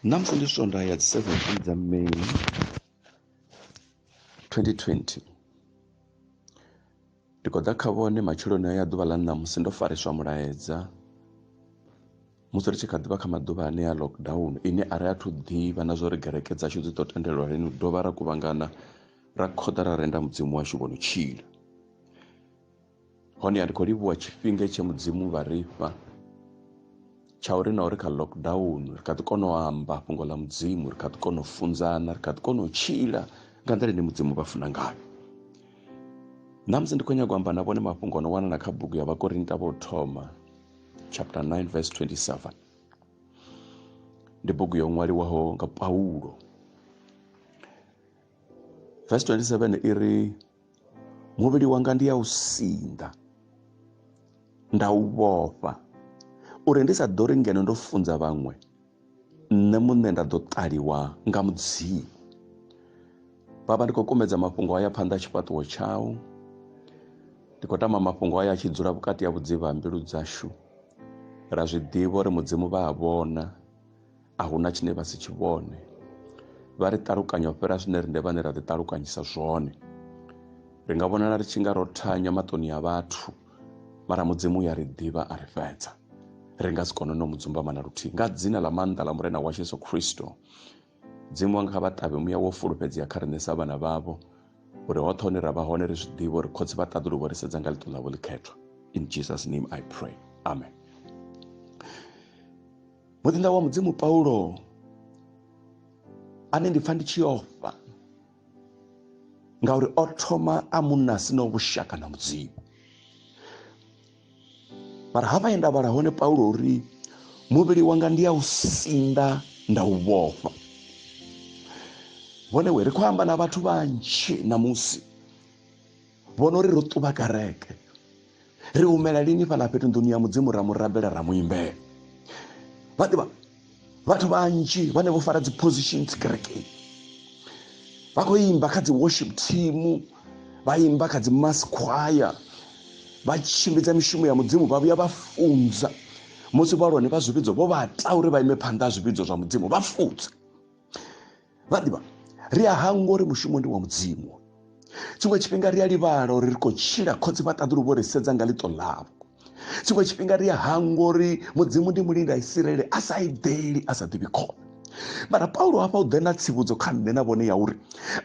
Ṋamusi ndi swondaha ya dzi 17 dza May 2020. Ndi khou ḓa kha vhone matsheloni ya ḓuvha ḽa ṋamusi ndo fariswa mulaedza musi ri tshi kha ḓivha kha maḓuvha ane ya lockdown ine a ri athu ḓivha na zwa uri gereke dzashu dzi ḓo tendelwa lini dovha ra kuvhangana ra khoḓa ra renda mudzimu washu vhono tshila. hone a ndi khou livhuwa tshifhinga tshe mudzimu vha ri fha tsha uri na uri kha lockdown ri kha ḓi kona u amba fhungo ḽa mudzimu ri kha ḓi kona u funzana ri kha ḓi kona u tshila nga nḓila ine mudzimu vha funa ngayo ṋamusi ndi khou nyanga u amba na vhone mafhungo ono wanala kha bugu ya vhakorinta vho thoma chapter 9 verse 27 ndi bugu yo ṅwaliwaho nga paulo verse 27 i ri muvhili wanga ndi ya u sinḓa nda u vhofha uri ndi sa ḓo ri ngeno ndo funza vhaṅwe nṋe muṋe nda ḓo ṱaliwa nga mudzimu baba ndi khou kumedza mafhungo aya phanḓa tshifhaṱuwo tshau ndi khou tama mafhungo aya a tshi dzula vhukati ha vhudzivha ha mbilu dzashu ra zwi ḓivha uri mudzimu vha a vhona a hu na tshine vha si tshi vhone vha ri ṱalukanya u fhira zwine riṋe vhane ra ḓiṱalukanyisa zwone ri nga vhonala ri tshi nga ro thanya maṱoni a vhathu mara mudzimu ya ri ḓivha a ri fhedza ri nga si kone no mu dzumbama na luthihi nga dzina ḽa maanḓa ḽa murena washu yesu khristo dzimu wanga kha vha ṱavhe muya wo fulufhedzea kha riṋe sa vhana vhavho uri hoṱhe hone ra vha hone ri zwi ḓivhe uri khotsi vha ṱaḓulu vho ri sedza nga ḽiṱo ḽavho ḽikhethwa in jesus name i pray amen muḓinḓa wa mudzimu paulo ane ndi pfa ndi tshi ofha ngauri o thoma a munna si no vhushaka na mudzimu mara hafha ye nda vhala hone paulo uri muvhili wanga ndi ya u sinda nda u vhofha vhone we ri khou amba na vhathu vhanzhi ṋamusi vhona uri ro ṱuvha kereke ri humela lini fhaḽa fhethu nḓuni ya mudzimu ra mu rabela ra mu imbela vha ḓivha vhathu vhanzhi vhane vho fara dzi positions kerekeni vha khou imba kha dzi worship team vha imba kha dzi mass choir vha tshimbidza mishumo ya mudzimu vha vhuya vha funza musi vhalwane vha zwivhidzo vho vha ta uri vha ime phanḓa ha zwivhidzo zwa mudzimu vha funze vha ḓivha ri a hangwa uri mushumo ndi wa mudzimu tshiṅwe tshifhinga ri a livhala uri ri khou tshila khotsi vha ṱaḓulu vho ri sedza nga ḽiṱo ḽavho tshiṅwe tshifhinga ri a hangwa uri mudzimu ndi mulinda isirele a sa eḓeli a sa ḓivhi khona mara paulo hafha u ḓe na tsivhudzo kha nṋe na vhone ya uri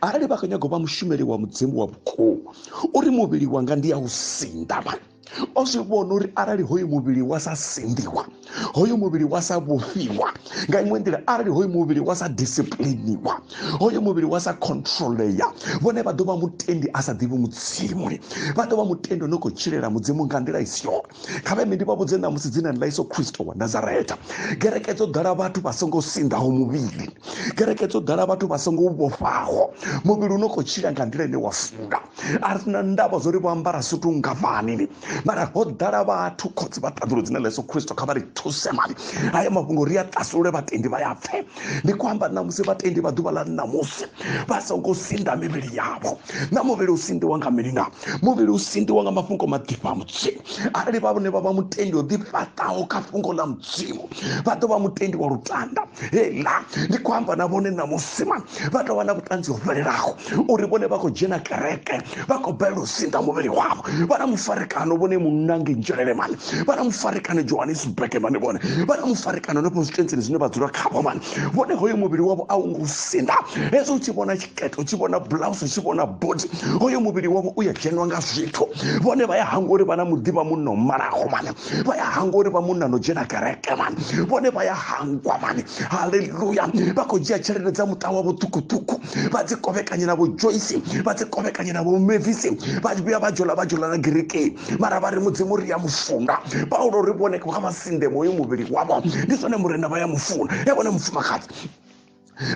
arali vha khou nyaga u vha mushumeli wa mudzimu wa vhukuma uri muvhili wanga ndi ya u sinda mani o zwi vhona uri arali hoyu muvhili wa sa sinḓiwa hoyu muvhili wa sa vhofhiwa nga iṅwe nḓila arali hoyu muvhili wa sa disipliniwa hoyu muvhili wa sa controleya vhone vha ḓo vha mutendi a sa ḓivhi mudzimu vha ḓo vha mutendi o no khou tshilela mudzimu nga nḓila i si yone kha vhe ndi vha vhudze ṋamusi dzinani ḽa iso khristo wa nazareta kereke dzo ḓala vhathu vha songo sinḓaho muvhili kereke dzo ḓala vhathu vha songo vhofhaho muvhili u no khou tshila nga nḓila ine wa funa a ri na ndavha zwo ri vho ambara sutu ngafhani ni mara ho ḓala vhathu khotsi vha ṱaḓulu dzine ḽa yesu khristo kha vha ri thuse mani haya mafhungo ri a ṱasulule vhatendi vha ya pfhe ndi khou amba na musi vhatendi vha ḓuvha ḽa ṋamusi vha songo sinda mivhili yavho na muvhili u sindiwa nga mini na muvhili u sindiwa nga mafhungo maḓifha a mudzimu arali vha vhone vha vha mutendi o ḓifhaṱaho kha fhungo ḽa mudzimu vha ḓo vha mutendi wa lutanda hela ndi khou amba na vhone ṋamusi mani vha tou vha na vhuṱanzi ho fhelelaho uri vhone vha khou dzhena kereke vha khou bela u sinḓa muvhili wavho vha na mufarekano vhone munange nzhelele mani vha na mufarekano johannesburg mani vhone vha na mufarekano no constituentsini zwine vha dzula khavho mani vhone hoyo muvhili wavho a u ngo sinḓa hezwo u tshi vhona tshiketo u tshi vhona blouse u tshi vhona bodi hoyo muvhili wavho u ya dzheniwa nga zwithu vhone vha ya hangwa uri vha na muḓivha munomalaho mani vha ya hangwa uri vha munna no dzhena kereke mani vhone vha ya hangwa mani haleluya vha khou dzhia tshelede dza muṱa wa vhuṱukuṱuku vha dzi kovhekanye na vho joyce vha dzi kovhekanye na vho mevisi vha vhuya vha dzhola vha dzhola na gerikei mara vha ri mudzimu ri ya mufunga paulo ri vhone kha vha sinde moyo muvhili wavho ndi zwone murena vha ya mufuna e vhone mufumakadzi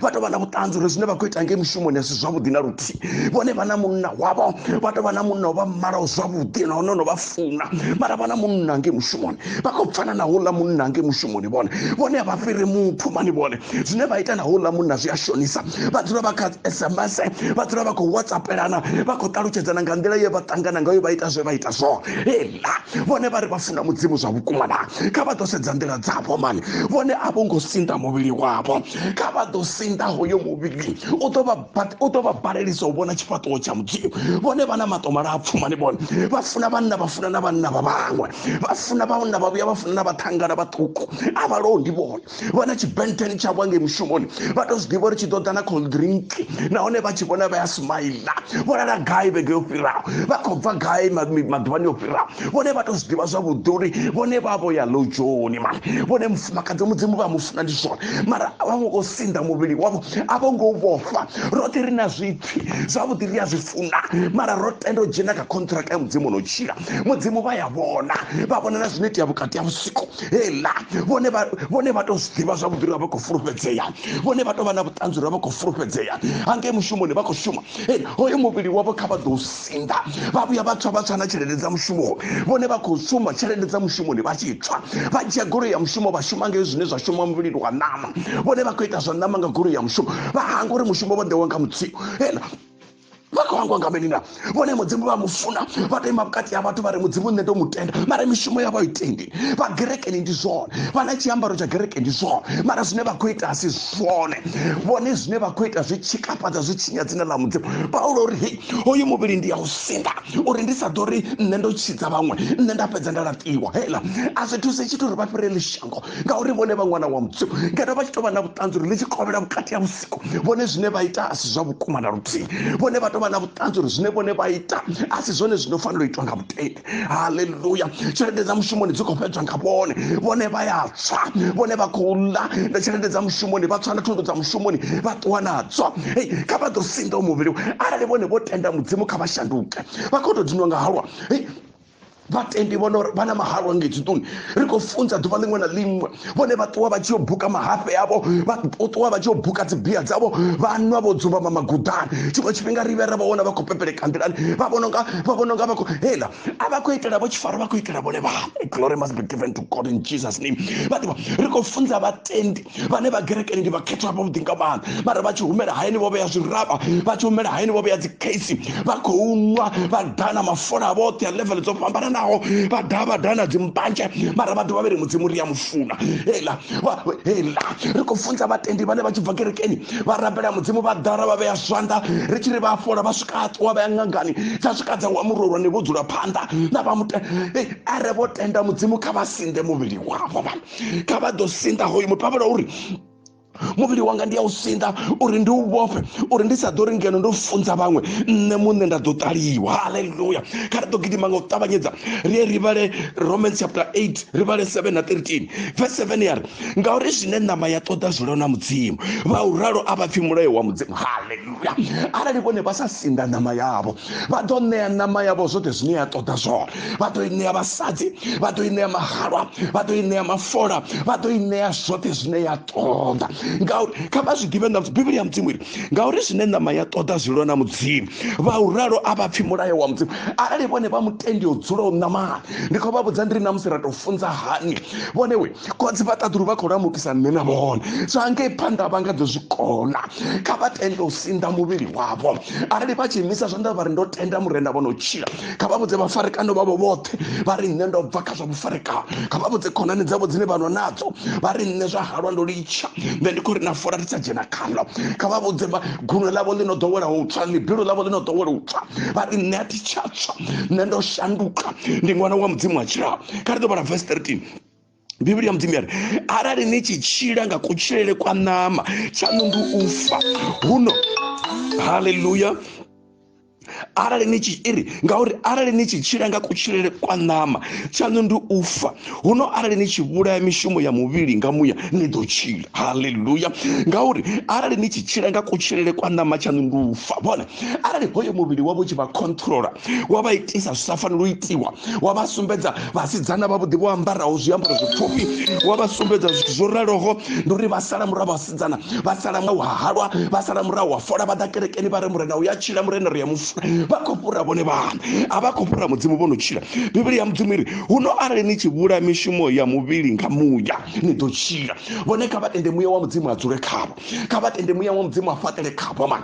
vha tou vha na vhuṱanzi uri zwine vha khou ita ngei mushumoni a si zwavhuḓi na luthihi vhone vha na munna wavho vha tou vha na munna vha malaho zwavhuḓi na hone no vha funa mara vha na munna ngei mushumoni vha khou pfana na houḽa munna ngei mushumoni vhone vhone a vha fhiri muthu mani vhone zwine vha ita na houḽa munna zwi a shonisa vha dzula vha kha sms vha dzula vha khou whatsappelana vha khou ṱalutshedzana nga nḓila ye vha ṱangana ngayo vha ita zwe vha ita zwone na vhone vha ri vha funa mudzimu zwa vhukuma na kha vha ḓo sedza nḓila dzavho mani vhone a vho ngo sinda muvhili wavho kha vha ḓo sinda hoyo muvhili u ḓo vha balelisa u vhona tshifhaṱuwo tsha mudzimu vhone vha na maṱo malapfu mani vhone vha funa vhanna vha funa na vhanna vha vhaṅwe vha funa vhanna vha vhuya vha funa na vhathangana vhaṱuku a vha londi vhone vha na tshibenteni tshavho ngei mushumoni vha to zwi ḓivha uri tshi ḓo ḓa na cold drink nahone vha tshi vhona vha ya smaila vho lala gai vhege yo fhiraho vha khou bva gai maḓuvhani yo fhiraho vhone vha to zwi ḓivha zwavhuḓi uri vhone vha vho ya lojoni ma vhone mufumakadzi mudzimu vha mufuna ndi zwone mara vha vho ngo sinḓa muvhili wavho a vho ngo vhofha roṱhe ri na zwipfi zwavhuḓi ri a zwi funa mara ro tenda u dzhena kha contract ya mudzimu no tshila mudzimu vha ya vhona vha vhona na zwino itea vhukati ha vhusiku hela vhone vhone vha tou zwi ḓivha zwavhuḓi uri vha khou fulufhedzea vhone vha tou vha na vhuṱanzi uri vha khou fulufhedzea hangei mushumoni vha khou shuma hoyo muvhili wavho kha vha ḓo sinḓa vha vhuya vha tswa vha tswa na tshelede dza mushumo vhone vha khou shuma tshelede dza mushumoni vha tshi tswa vha dzhia goloi ya mushumo vha shuma ngei zwine zwa shuma muvhilini wa ṋama vhone vha khou ita zwa ṋama nga goloi ya mushumo vha hanga uri mushumo vha ḓe wa nga mutsiko hela vha khou angwa nga mini na vhone mudzimu vha mu funa vha to ima vhukati ha vhathu vha ri mudzimu nṋe to mu tenda mara mishumo yavho a i tendi vha gerekeni ndi zwone vha na tshiambaro tsha gereke ndi zwone mara zwine vha khou ita a si zwone vhone zwine vha khou ita zwi tshikafhadza zwi tshinya dzina ḽa mudzimu paulo uri hei hoyu muvhili ndi ya u sinda uri ndi sa ḓo ri nṋe ndo tshidza vhaṅwe nṋe nda fhedza nda laṱiwa heiḽa a zwi thuse tshithu uri vha fhirele shango ngauri vhone vha ṅwana wa mudzimu ngeno vha tshi tou vha na vhuṱanzi uri ḽi tshi kovhela vhukati ha vhone zwine vha ita a si zwa vhukuma na luthihi vhone vha tovha na vhuṱanzi uri zwine vhone vha ita a si zwone zwino fanela u itwa nga mutendi haleluya tshelede dza mushumoni dzi khou fhedzwa nga vhone vhone vha ya tswa vhone vha khou ḽa na tshelede dza mushumoni vha tswa na thundu dza mushumoni vha ṱuwa nadzo hei kha vha ḓo sinḓa u muvhili arali vhone vho tenda mudzimu kha vha shanduke vha khou tou dinwa nga halwa hei vhatendi vhona uri vha na mahalwa nga etsituni ri khou funza ḓuvha ḽiṅwe na ḽiṅwe vhone vha ṱuwa vha tshi yo buka mahafhe avho vha ṱuwa vha tshi yo buka dzibia dzavho vha nwa vho dzumbama maguḓani tshiṅwe tshifhinga ri vhe ra vha vhona vha khou pepeleka nḓilani vha vhona nga vha vhona nga vha khou hela a vha khou itela vho tshifaro vha khou itela vhone vhane glory must be given to god in jesus name vha ḓivha ri khou funza vhatendi vhane vha gerekeni ndi vhakhethwa vhavhuḓi nga maanḓa mara vha tshi humela hayani vho vhea zwiraba vha tshi humela hayani vho vhea dzikheisi vha khou nwa vha dana mafola vhoṱhe a level dzo fhambananaho vha daha vha dana dzimbanzhe mara vha dovha vhe ri mudzimu ri a mu funa hela hela ri khou funza vhatendi vhane vha tshi bva kerekeni vha rabela mudzimu vha ḓara vha vhea zwanḓa ri tshi ri vha fola vha swika a ṱuwa vha ya ṅangani dza swika dza wa murolwane vho dzula phanḓa na vha mute are vho tenda mudzimu kha vha sinde muvhili wavho kha vha ḓo sinḓa hoyu muthu vha vhala uri muvhili wanga ndi a u sinḓa uri ndi u vhofhe uri ndi sa ḓo ri ngeno ndo funza vhaṅwe nṋe muṋe nda ḓo ṱaliwa haleluya kha ri ḓo gidima nga u ṱavhanyedza ri ye ri vhale romans chapter 8 ri vhale 7 na 13 verse 7 ya ri ngauri zwine ṋama ya ṱoḓa zwi lona mudzimu vha u ralo a vha pfhi mulayo wa mudzimu haleluya arali vhone vha sa sinḓa ṋama yavho vha ḓo ṋea ṋama yavho zwoṱhe zwine ya ṱoḓa zwone vha ḓo i ṋea vhasadzi vha ḓo i ṋea mahalwa vha ḓo i ṋea mafola vha ḓo i ṋea zwoṱhe zwine ya ṱoḓa ngauri kha vha zwi ḓivhe ṋamusi bivhili ya mudzimu iri ngauri zwine ṋama ya ṱoḓa zwi lwa na mudzimu vha u ralo a vha pfhi mulayo wa mudzimu arali vhone vha mutendi o dzulaho ṋamani ndi khou vha vhudza ndi ri ṋamusi ra tou funza hani vhone we kodzi vha ṱaḓulu vha khou lamukisa nṋe na vhone zwa ngei phanḓa vha nga ḓo zwi kona kha vha tende u sinḓa muvhili wavho arali vha tshi imisa zwanḓa vha ri ndo tenda murenda vho no tshila kha vha vhudze vhafarekano vhavho vhoṱhe vha ri nṋe ndo bva kha zwa vhufarekano kha vha vhudze khonani dzavho dzine vha nwa nadzo vha ri nṋe zwa halwa ndo litsha nṋe ndi khou ri na fola ri sa dzhena khalo kha vha vhudze guno ḽavho ḽi no ḓowela u tswa ḽibilu ḽavho ḽi no ḓowela u tswa vha ri nṋe a thi tsha tswa nṋe ndo shanduka ndi ṅwana wa mudzimu wa tshilao kha ri ḓo vhala vesi 13 bivhili ya mudzimu yari arali ni tshi tshila nga kutshilele kwa ṋama tshaṋu ndi u fa huno haleluya arali ni tshi iri ngauri arali ni tshi tshila nga kutshilele kwa ṋama tshaṋu ndi u fa huno arali ni tshi vhulaya mishumo ya muvhili nga muya ni ḓo tshila haleluya ngauri arali ni tshi tshila nga kutshilele kwa ṋama tshaṋu ndi u fa vhone arali hoyo muvhili wavho tshi vha controller wa vha itisa zwi sa fanela u itiwa wa vha sumbedza vhasidzana vhavhuḓi vho ambaraho zwiambaro zwipfufhi wa vha sumbedza zwithu zwo raloho ndi uri vha sala murahu vhasidzana vha sala murahu ha halwa vha sala murahu wa fola vha ḓa kerekeni vha re murena u ya tshila murena ri ya mufula vha khou fhura vhone vhana a vha khou fhura mudzimu vho no tshila bivhili ya mudzimu iri huno arali ni tshi vhula mishumo ya muvhili nga muya ni ḓo tshila vhone kha vha tende muya wa mudzimu a dzule khavho kha vha tende muya wa mudzimu a fhaṱele khavho ma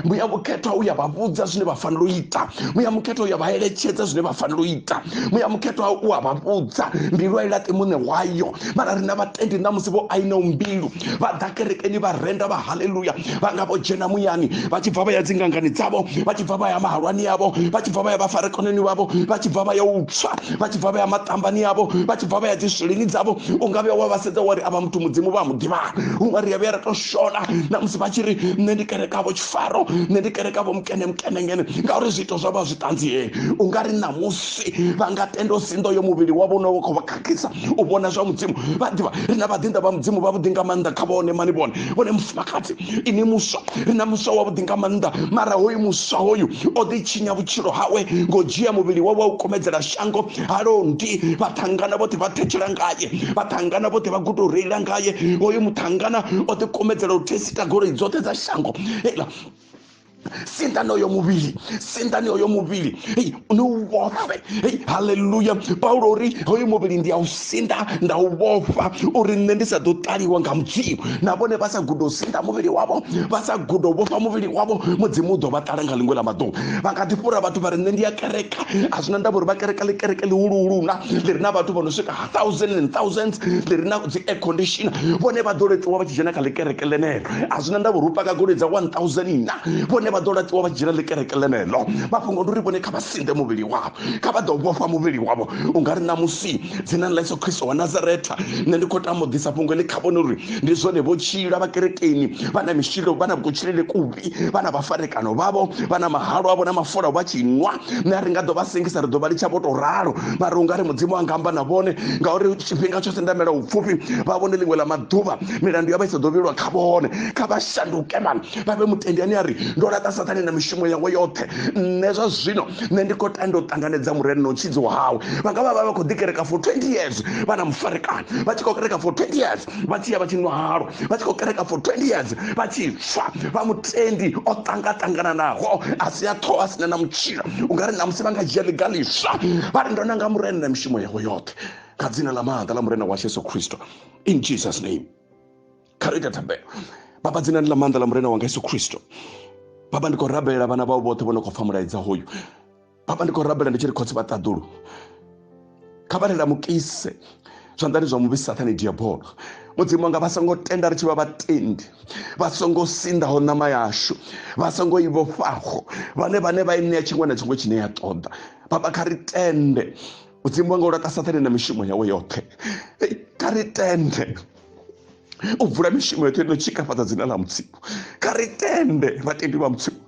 muya mukhethwa uya vha vhudza zwine vha fanela u ita muya mukhethwa uya vha eletshedza zwine vha fanela u ita muya mukhethwa u a vha vhudza mbilu a i laṱe muṋe wayo mara rina vhatendi na musi vho aina mbilu vha ḓa kerekeni vha renda vha haleluya vha nga vho dzhena muyani vha tshi bva vha ya dzingangani dzavho vha tshi bva vha ya mahalwani yavho vha tshi bva vha ya vhafarekoneni vhavho vha tshi bva vha ya u tswa vha tshi bva vha ya maṱambani yavho vha tshi bva vha ya dziswilini dzavho u nga vhuya wa vha sedza wa ri avha muthu mudzimu vha mu ḓivhana huṅwe ri a vhuya ra to shona na musi vha tshi ri nṋe ndi kerekavho tshifaro nṋe ndi kerekavho mukene mukene ngene ngauri zwiito zwa vha zwi ṱanziee u nga ri ṋamusi vha nga tenda u sinḓo yo muvhili wavho une wa khou vha khakhisa u vhona zwa mudzimu vha ḓivha ri na vhaḓinḓa vha mudzimu vhavhuḓi nga maanḓa kha vhone mani vhone vhone mufumakadzi ini muswa ri na muswa wavhuḓi nga maanḓa mara hoyu muswa hoyu o ḓi tshinya vhutshilo hawe ngo dzhia muvhili wawe wa u kumedzela shango halondi vhaṱhangana vhoṱhe vha thetshela ngaye vhaṱhangana vhoṱhe vha guda u reila ngaye hoyu muṱhangana o ḓikumedzela u thesita goloi dzoṱhe dza shango ela sindani oyo muvhili sindani oyo muvhili ni u vhofhe haleluya paulo uri hoyu muvhili ndi a u sinḓa nda u vhofha uri nṋe ndi sa ḓo ṱaliwa nga mudzimu na vhone vha sa guda u sinḓa muvhili wavho vha sa guda u vhofha muvhili wavho mudzimu u ḓo vha ṱala nga ḽiṅwe ḽa maḓuvha vha nga ḓi fhura vhathu vha ri nṋe ndi ya kereka a zwi na ndavha uri vha kereka ḽi kereke ḽihuluhuluna ḽi re na vhathu vho no swika thousand and thousands ḽi re na dzi air condition vhone vha ḓo latiwa vha tshi dzhena kha ḽi kereke ḽeneḽo a zwi na ndavha uri u paka goloi dza one thousand na vhone vha ḓo latiwa vha tshi dzhena ḽi kereke ḽeneḽo mafhungo ndi uri vhone kha vha sinḓe muvhili wavho kha vha ḓo vhofha muvhili wavho u nga ri na musi ipfi dzinani ḽa yesu khristo wa nazaretha nṋe ndi khou tama u ḓisa fhungo ḽi kha vhone uri ndi zwone vho tshila vha kerekeni vha na mishilo vha na kutshilele kuvhi vha na vhafarekano vhavho vha na mahalo avho na mafola vha tshi nwa nṋe a ri nga ḓo vha sengisa ri ḓo vha litsha vho tou ralo mara u nga ri mudzimu a nga amba na vhone ngauri tshifhinga tsho sendamela upfufhi vha vhone ḽiṅwe ḽa maḓuvha milandu ya vha i sa ḓo vhilwa kha vhone kha vha shanduke mani vha vhe mutendi ane a ri ndo laṱa sathane na mishumo yawe yoṱhe nṋe zwa zwino nṋe ndi khou tanda u ṱanganedza murena na u tshidzo hawe vha nga vha vha vha khou ḓikereka for 20 years vha na mufarekana vha tshi khou kereka for 20 years vha tshi ya vha tshi nwa halo vha tshi khou kereka for 20 years vha tshi swa vha mutendi o ṱangaṱangananaho a si a ṱhoho a sina na mutshila u nga ri na musi vha nga dzhia ḽiga ḽiswa vha ri ndo nanga murena na mishumo yawe yoṱhe kha dzina ḽa maanḓa ḽa murena washu yesu kristo in jesus name kha ri ita thembelo baba dzinani ḽa maanḓa ḽa murena wanga yesu khristo baba ndi khou rabelela vhana vhao vhoṱhe vho no khou pfa mulaedza hoyu baba ndi khou rabelela ndi tshi ri khotsi vha ṱaḓulu kha vha lelamukise zwanḓani zwa muvhi sathane diabolo mudzimu wanga vha songo tenda ri tshi vha vhatendi vha songo sindaho ṋama yashu vha songo i vhofhaho vhane vhane vha i ṋea tshiṅwe na tshiṅwe tshine ya ṱoḓa baba kha ri tende mudzimu wanga u laṱa sathane na mishumo yawe yoṱhe kha ri tende u bvula mishumo yoṱhe no tshikafhadza dzina ḽa mudzimu kha ri tende vhatendi vha mudzimu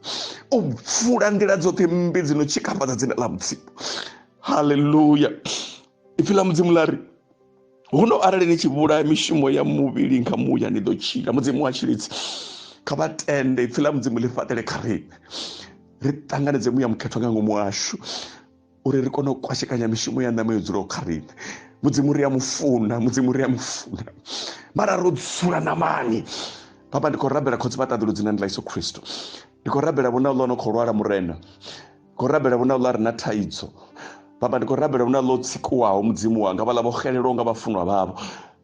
u bvula nḓila dzoṱhe mmbi dzi no tshikafhadza dzina ḽa mudzimu halleluya ipfi ḽa mudzimu ḽa ri huno arali ni tshi vhulaya mishumo ya muvhili nga muya ni ḓo tshila mudzimu wa tshilidzi kha vha tende ipfi ḽa mudzimu ḽi fhaṱele kha riṋe ri ṱanganedze muya mukhethwa nga ngomu washu uri ri kone u kwashekanya mishumo ya ṋama yo dzulaho kha riṋe mudzimu ri a mufuna mudzimu ri a mufuna mara ro dzula namani papa ndi khou rabela khotsi vhaṱaḓulu dzinani ḽa iso khristo ndi khou rabela vhona ḽo no khou lwala murena ndi khou rabela vhona ḽa re na thaidzo papa ndi khou rabela vhona ḽo tsikuwaho mudzimu wanga vhaḽa vho xelelwaho nga vhafunwa vhavho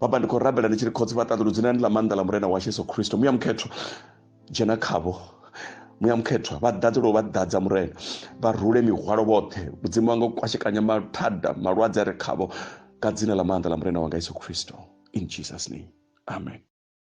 papa ndi khou rabela ndi tshi ri khotsi vhaṱaḓulu dzinani ḽa maanḓa ḽa murena washu yesu khristo muya mukhetho dzhena khavho muya mukhethwa vha ḓadze lwo vha ḓadza murena vha rule mihwalo vhoṱhe mudzimu wanga u kwashekanya mathada malwadze a re khavho ka dzina ḽa maanḓa ḽa murena wanga yesu kristo in jesus name amen